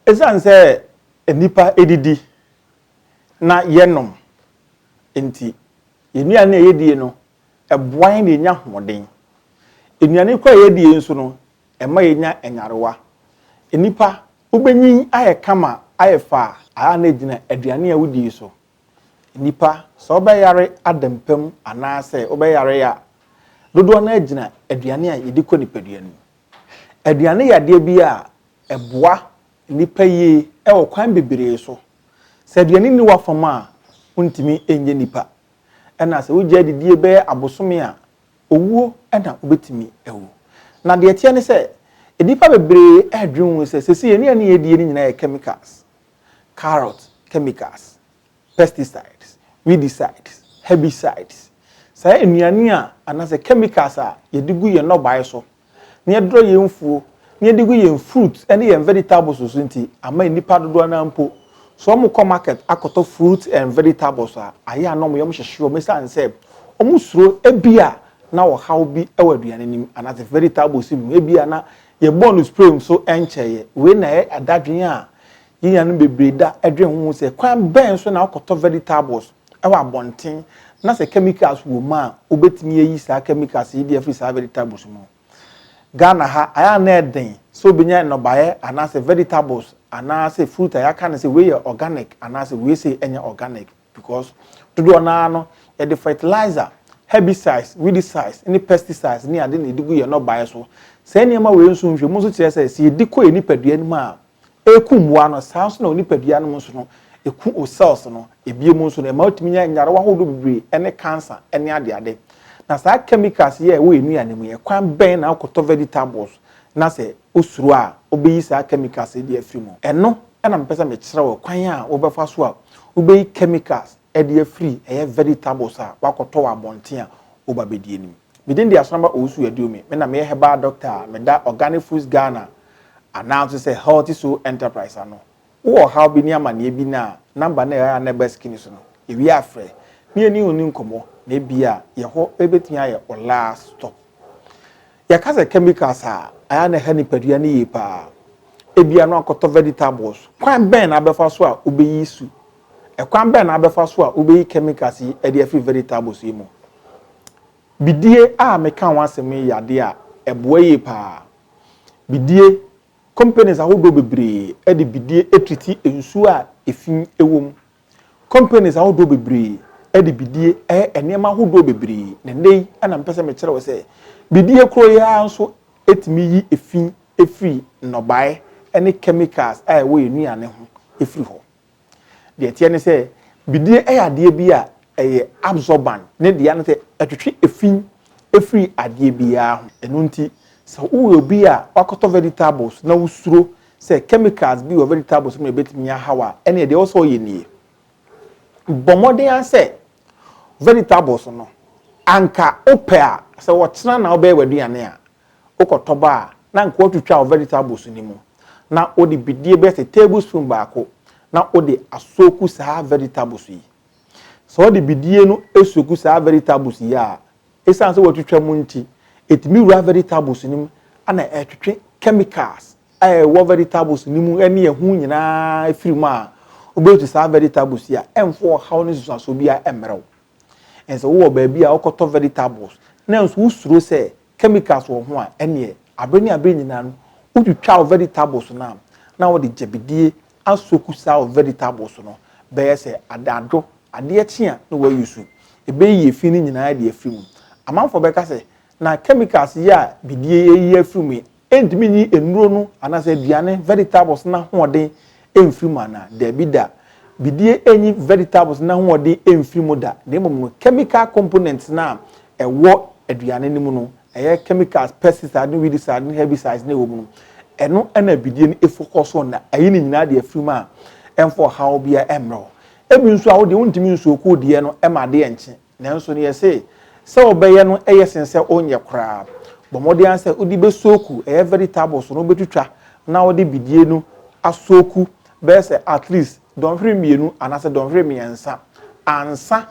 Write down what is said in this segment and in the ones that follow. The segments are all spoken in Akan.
Esiane sɛ nnipa didi na yɛnom nti, yɛn nnuane a yedi no boa yɛn na yenya ahoɔden. Nnuane koro a yedi nso no, ɛma yenya nyarewa. Nnipa, wobenyin ayɛ kama ayɛ fɛ a, ɛyɛ a na egyina aduane a wodi so. Nnipa, sɛ wɔbɛyare adampam anaasɛ wɔbɛyare a, dodow no ara gyina aduane a yɛde kɔ nipadua no mu. Aduane yɛ adeɛ bi a ɛboa nnipa yie wɔ kwan bebree so. Sɛ aduane nni w'afa mu a, wontumi nyɛ nnipa. Ɛna sɛ wogyae didie bɛyɛ abosome a, owuo na wobɛtumi awu. Na deɛ ɛteɛ ne sɛ, nnipa bebree redwene ho sɛ, seesei nnuane a yɛdie no nyinaa yɛ chemicals, carrot chemicals. pesticides, weedicides, herbicides, saa nnuane a anaasɛ chemicals a yɛde gu yɛn nnɔbae so, na yɛdrɔ yɛn mfuo, na yɛde gu yɛn fruit ne yɛn vegetables so nti ama nnipa dodoɔ no ara mpo, sɛ wɔkɔ market akɔtɔ fruits and vegetables a, ayɛ a na wɔyɛ wɔhyehye wɔn ɛsiane sɛ wɔsuro ebia na ɔhaw bi wɔ aduane no mu anaasɛ vegetables no mu, ebia na yɛbɔɔ no spray nso nkyɛeɛ. Wei na ɛyɛ dadwene a Yɛn nuanom bebree da dwen ho hu sɛ, kwan bɛn so na wɔkɔtɔ vegetables wɔ abɔnten, na sɛ chemicals wom a, wobetumi ayi saa chemicals yi de afi saa vegetables mu? Ghana ha, ayɛ a na ɛden sɛ wobenya nnɔbaeɛ anaasɛ vegetables anaasɛ fruit a yɛaka no sɛ wei yɛ organic anaasɛ wei sei nyɛ organic because dodoɔ no ara no, yɛde fertilizer, herbicides, weedicides, ne pesticides ne ade na yɛde gu yɛn nnɔbaeɛ so. Saa nneɛma wei nso nhwɛmu nso kyerɛ sɛ, sɛ yɛdi kɔ yɛn nipadua no mu a, ɛku mmoa no, saa nso na wɔ nipadua no mu nso no, ɛku wo cells no, ɛbie mu nso no, ɛma wotumi nya nyarewa ahodoɔ bebree ɛne cancer ɛne adeade. Na saa chemicals yi a ɛwɔ nnuane mu yi, ɛkwan bɛn na wokɔtɔ vegetables na sɛ wosuro a wobɛyi saa chemicals yi de afiri mu? Ɛno na mepɛ sɛ mekyerɛ wo kwan a wobɛfa so a wobɛyi chemicals ɛde afiri ɛyɛ vegetables a wakɔtɔ wɔ abɔnten a woba bɛdi anim. Me din de Asonaba Owusu Aduomi, me na meyɛ herbal doctor a meda Organic Foods Ghana anaa nso sɛ Healthy Soul Enterprise ano. Wowɔ ɔhaw bi ne amanneɛ bi na a, number no a ɛwɔ a na ɛba screen so no, yɛwie a frɛ na yɛne wo nni nkɔmmɔ na ebia yɛn hɔ bɛtumi ayɛ wo last stop. Yɛka sɛ chemicals a, ɛyɛ a na ɛha nipadua no yie pa ara. Ebia na wakɔtɔ vegetables, kwan bɛn na wobɛfa so a wobɛyi su Ɛkwan bɛn na wobɛfa so a wubeyi chemicals yi adi afi vegetables yi mu? Bidie a meka ho asɛm yi yɛ ade a ɛboa yie paa. Bidie, Companies ahodoɔ bebree de bidie triti nsuo a efi wɔ mu. Companies ahodoɔ bebree de bidie yɛ nneɛma ahodoɔ bebree, na ɛnnɛ yi na mepɛ sɛ mekyerɛ wo sɛ bidie koro yi ara nso tumi yi efi firi nnɔbaeɛ ne chemicals a ɛwɔ yɛn nnuane ho firi hɔ. Deɛ ɛteɛ ne sɛ, bidie yɛ adeɛ bi a ɛyɛ absorbent. Ne dea ne sɛ, ɛtwetwe efi firi adeɛ biara ho. Ɛno nti, sɛ woyɛ obi a woakɔtɔ vegetables na wosuro sɛ chemicals bi wɔ vegetables no mu a ɛbɛtumi aha wo a, ɛnneɛ deɛ ɛwɔ sɛ woyɛ nie, Bɔ mmɔden ara sɛ vegetables no, anka wopɛ a, sɛ ɔkyena na wobɛyɛ w'aduane a, Wokɔ tɔba a, na nka wɔatwitwa wo vegetables no mu, na wode bidie bɛyɛ sɛ tablespoon baako na wode asoaku saa vegetables yi. Sɛ wode bidie no soaku saa vegetables yi a, ɛsiane sɛ wɔatwitwa mu nti, ɛtumi wura vegetables no mu na ɛtwetwe chemicals a ɛwɔ vegetables no mu ne ɛho nyinaa firi mu a, wobɛtu saa vegetables yi a, ɛmfa ɔhaw ne nsunsuansoɔ biara mmrɛ wo. And sɛ wowɔ baabi a wokɔtɔ vegetables na nso wosuro sɛ chemicals wɔ ho a, ɛnneɛ aberɛ ne aberɛ nyinaa no wotwitwa wo vegetables no a, na wode gyabidie asoak saa wo vegetables no bɛyɛ sɛ adaadwo, adeɛ kye a na wouse, ɛbɛyiyi fi no nyinaa de afiri mu. Amanfoɔ bɛka sɛ, na chemicals yi a bidie yi ayiyi afiri mu yi Entumi nyi nnuro no anaasɛ aduane, vegetables, no ahoɔden mfiri mu anaa? Dabi da. Bidie nnyi vegetables no ahoɔden mfiri mu da, na mmom no, chemical components no a ɛwɔ aduane no mu no, ɛyɛ chemicals, pesticides ne weedicides ne herbicides na ɛwɔ mu no, ɛno na bidie no focus on, na ayi ne nyinaa de afiri mu a ɛmfa ɔhaw biara mmrɛ wo. Ebi nso a, wo deɛ wontumi nsoak wo deɛ no ma adeɛ nkye. Nanso nea ɛsɛ sɛ ɔbɛyɛ no ye sen sɛ ɔnyɛ koraa. Bɔ mmɔden ara sɛ wode bɛsooku ɛyɛ vegetables no wobɛtwitwa na wode bidie no asooku bɛyɛ sɛ at least dɔnhwere mmienu anaasɛ dɔnhwere mmiɛnsa ansa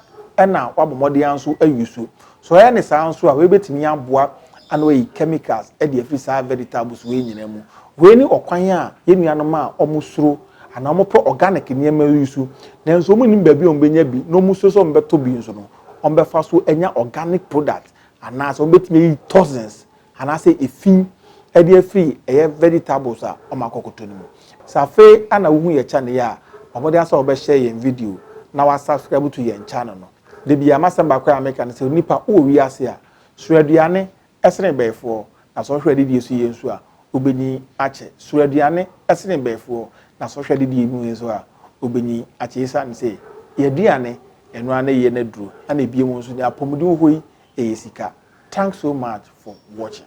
na woabɔ mmɔden ara nso ayi so. Sɛ ɔyɛ ne saa nso a, wei bɛtumi aboa na wayi chemicals de afiri saa vegetables wei nyinaa mu. Wei ne ɔkwan a yɛn nuanom a wɔsuro anaa wɔpɛ organic nneɛma yi so nanso wɔnnim baabi a wɔbɛnya bi na wɔsuro sɛ wɔbɛtɔ bi nso no, wɔbɛfa so anya organic product anaasɛ wɔbɛtumi ayi toxins anaasɛ efi de afiri ɛyɛ vegetables a wɔakɔkɔtɔ no mu. Sɛ afei na wohu yɛn channel yi a, bɔ mmɔden ara sɛ wobɛhyɛ yɛn video na woasubscribe to yɛn channel no. Da biara m'asɛm baako a meka ne sɛ, onipa wowɔ wiase a, sow aduane sene mbayifoɔ, na sɛ ɔhwɛ adedie so yie nso a, ɔbɛnyin akyɛ. Suro aduane sene mbayifoɔ, na sɛ ɔhwɛ adedie mu yie nso a, ɔbɛnyin akyɛ. Esiane sɛ yɛn aduane, ɛno ara ne yɛn aduro, ɛna biom nso nea apɔmuden wɔ hɔ yi, ɛyɛ sika. Thanks so much for watching.